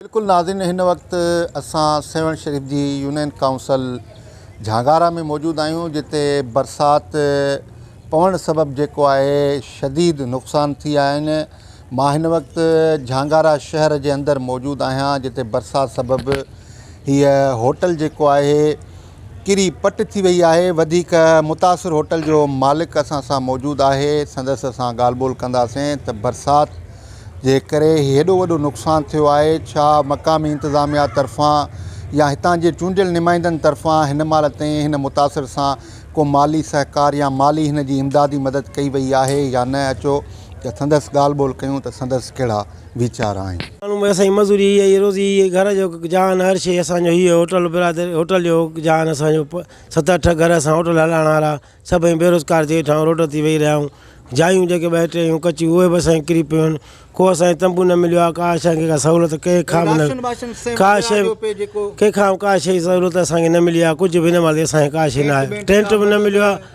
بلڪل ناظرين هن وقت اسان سيوهڻ شريف جي يونين ڪائونسل جهانگارا ۾ موجود آهيون جتي برسات پوڻ سبب جيڪو آهي شديد نقصان ٿي آهن مان هن وقت جهانگارا شهر جي اندر موجود آهيان جتي برسات سبب هي هوٽل جيڪو آهي ڪري پٽ ٿي وئي آهي وڌيڪ متاثر هوٽل جو مالڪ اسان سان موجود آهي سندس اسان ڳالهه ٻولهه ڪنداسين ته برسات جي ڪري هي هيڏو وڏو نقصان ٿيو آهي ڇا مقامي انتظاميا طرفان يا هتان جي چونڊيل نمائندن طرفان هن مهل تائين هن متاثر سان ڪو مالي سهڪار يا مالي هن جي امدادي مدد ڪئي وئي آهي يا نه اچو ته سندس ڳالهه ٻولهه ڪيون ته سندس ڪهڙا ويچار آهن. ماڻهو ڀي اسان جي مزوري هي آهي روزي هي آهي گهر جو جهان هر شي اسان جو هي هوٽل برادر هوٽل جو جهان اسان جو ست اٺ گهر اسان هوٽل هلائڻ وارا سڀئي بيروزگار ٿي ويٺا آهيون روڊ تي ويهي رهيا آهيون جايون جيڪي ٻه ٽي هيون ڪچيون اهي به اسان کي ڪري پيون آهن ڪو اسان کي تنبو نه مليو آهي ڪا اسان کي ڪا سهولت ڪنهن کان به نه ڪا شي ڪنهن کان ڪا شي سهولت اسان کي نه ملي آهي ڪجهه به هن مهل اسان کي ڪا شي نه آهي ٽينٽ به نه مليو آهي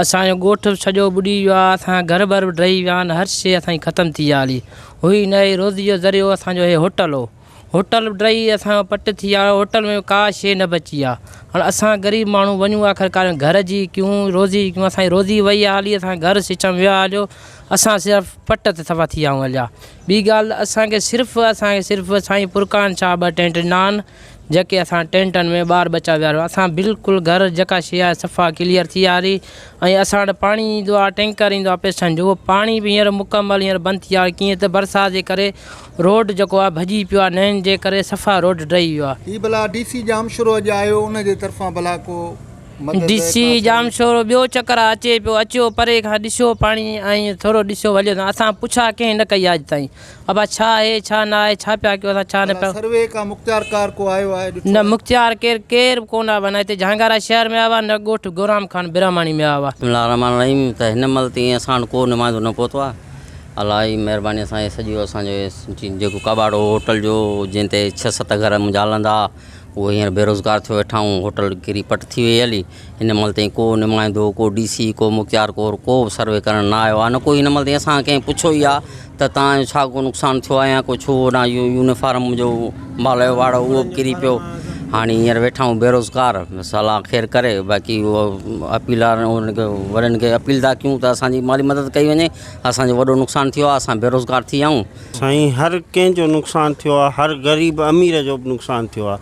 اسان جو ڳوٺ به سڄو ٻڏي ويو آ اسان جا گهر بر به ڊهي ويا آهن هر شي اسان جي ختم ٿي ويا هلي هئي نه هئي روزي جو ذريعو اسان جو هي هوٽل هو هوٽل به ڊهي اسان جو پٽ ٿي ويا هوٽل ۾ ڪا شي نه بچي آ هاڻ اسان غريب ماڻهو وڃون آخر ڪار گهر جي ڪيون روزي جي ڪيون اسان جي روزي وئي آ هلي اسان گهر سچم ويو آ هليو اسان صرف پٽ تي سفا ٿي ويا آهيون هليا ٻي ڳالهه اسان کي صرف اسان کي صرف سائين پرڪان شاهه ٻه ٽينٽ ڏنا آهن جيڪي اسان ٽينٽن ۾ ٻار ٻچا ويهاريو اسان بلڪل گهر جيڪا شي آهي صفا ڪليئر ٿي آري ۽ اسان وٽ پاڻي ايندو آهي ٽينڪر ايندو آهي پيسن جو اهو پاڻي به هينئر مڪمل هينئر بند ٿي آهي ڪيئن ته برسات جي ڪري روڊ جيڪو آهي ڀڄي پيو آهي نئين جي ڪري صفا روڊ ڊهي ويو آهي. هي بلا ڊي سي ڄامشورو اڄ آيو ان جي طرفان بلا ڪو مدد ڊي سي ڪا سهي. ڄامشورو ٻيو چڪر آهي اچي پيو اچيو پري کان ڏسيو پاڻي ۽ ٿورو ڏسيو وليو اسان پڇا ڪنهن نه ڪئي آهي اڄ تائين ابا ڇا آهي ڇا نه آهي ڇا پيا ڪيو اسان ڇا نه پيا. سروي ڪا مختيارڪار ڪو آيو آهي ڏٺو آهي. نه مختيار ڪير ڪير به ڪونه آيو آهي نه هتي جهانگارا شهر ۾ آيو آهي نه ڳوٺ گورام خان برهماڻي ۾ آيو آهي. بسم الله الرحمٰن الرحيم ته هن مهل تائين اسان وٽ ڪو نمائندو نه پهتو آهي الله جي مهرباني سان هي سڄو اسانجو جيڪو ڪٻاٽ هو هوٽل جو جنهن تي ڇهه ست گهر منهنجا هلندا ها اهو هينئر بيروزگار ٿيو ويٺائون، هوٽل ڪري پٽ ٿي وئي علي، هن مهل تائين ڪو نمائندو، ڪو ڊي سي، ڪو مختيار ڪور ڪو به سروي ڪرڻ نه آيو آ نه ڪو هن مهل تائين اسان کان ڪنهن پڇيو ئي آ ته توهان جو ڇا ڪو نقصان ٿيو آ يا ڪو ڇو هوڏانهن اهو يونيفارم منهنجو مال جو واڙو اهو به ڪري پيو هاڻي هينئر ويٺائون بيروزگار بس الله خير ڪري باقي اهو اپيل آ انهن کي وڏن کي اپيل ٿا ڪيون ته اسان جي مالي مدد ڪئي وڃي اسان جو وڏو نقصان ٿيو آ اسان بيروزگار ٿي ويا آهيون سائين هر ڪنهن جو نقصان ٿيو آ هر غريب امير جو به نقصان ٿيو آ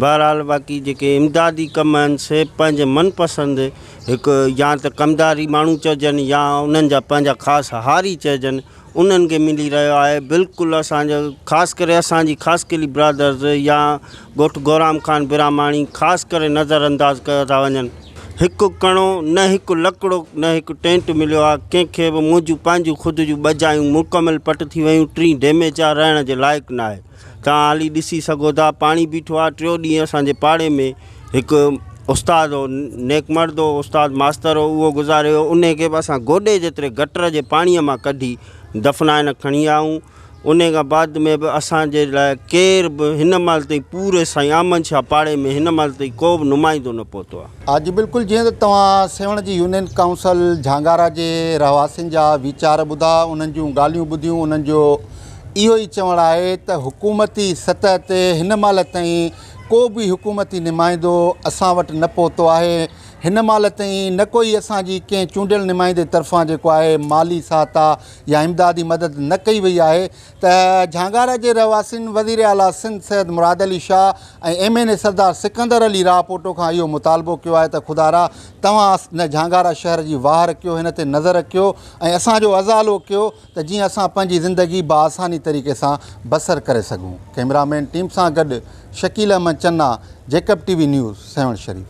بهرحال باقي جيڪي امدادي ڪم آهن سي پنهنجي من پسند هڪ يا ته ڪمداري ماڻهو چئجن يا انهن جا پنهنجا خاص هاري چئجن انهن کي ملي رهيو آهي بلڪل اسان جو خاص ڪري اسان جي خاصخيلي برادرز يا ڳوٺ گورام خان براهماڻي خاص ڪري نظر انداز ڪيو ٿا وڃن. هڪ ڪڻو، نه هڪ لڪڙو، نه هڪ ٽينٽ مليو آ، ڪنهن کي به، منهنجون پنهنجون خود جون ٻه جايون مڪمل پٽ ٿي ويون، ٽين ڊيميج آ، رهڻ جي لائق ناهي، توهان هلي ڏسي سگهو ٿا، پاڻي بيٺو آ، ٽيون ڏينهن اسان جي پاڙي ۾ هڪ استاد هو، نيڪ مرد هو، استاد ماستر هو، اهو گذاري ويو، انهي کي به اسان گوڏي جيتري گٽر جي پاڻي مان ڪڍي دفنائي نه کڻي آيون. انهيء کان بعد ۾ به اسان جي لاء ڪير به هن مهل تائين پوري سائين آمن شاهه پاڙي ۾ هن مهل تائين ڪو به نمائندو نه پهتو آهي. ها جي بلڪل جيئن ته توهان سيوهڻ جي يونين ڪائونسل جهانگارا جي رهواسين جا ويچار ٻڌا انهن جون ڳالهيون ٻڌيون انهن جو اهو ئي چوڻ آهي ته حڪومتي سطح تي هن مهل تائين ڪو به حڪومتي نمائندو اسان وٽ نه پهتو آهي هن مهل تائين نه ڪوئي اسان جي ڪنهن چونڊيل نمائندي طرفان جيڪو آهي مالي سهاتا يا امدادي مدد نه ڪئي وئي آهي ته جهانگارا جي رهواسين وزير اعليٰ Sindh Syed Murad Ali Shah ۽ M N A Sardar Sikandar Ali Rahpoto کان اهو مطالبو ڪيو آهي ته خدارا توهان نه جهانگارا شهر جي واهر ڪيو هن تي نظر رکيو ۽ اسان جو ازالو ڪيو ته جيئن اسان پنهنجي زندگي بآساني طريقي سان بسر ڪري سگهون ڪئميرا مين ٽيم سان گڏ Shakeel Ahmed Channa Jacob T V news Sehwan شريف.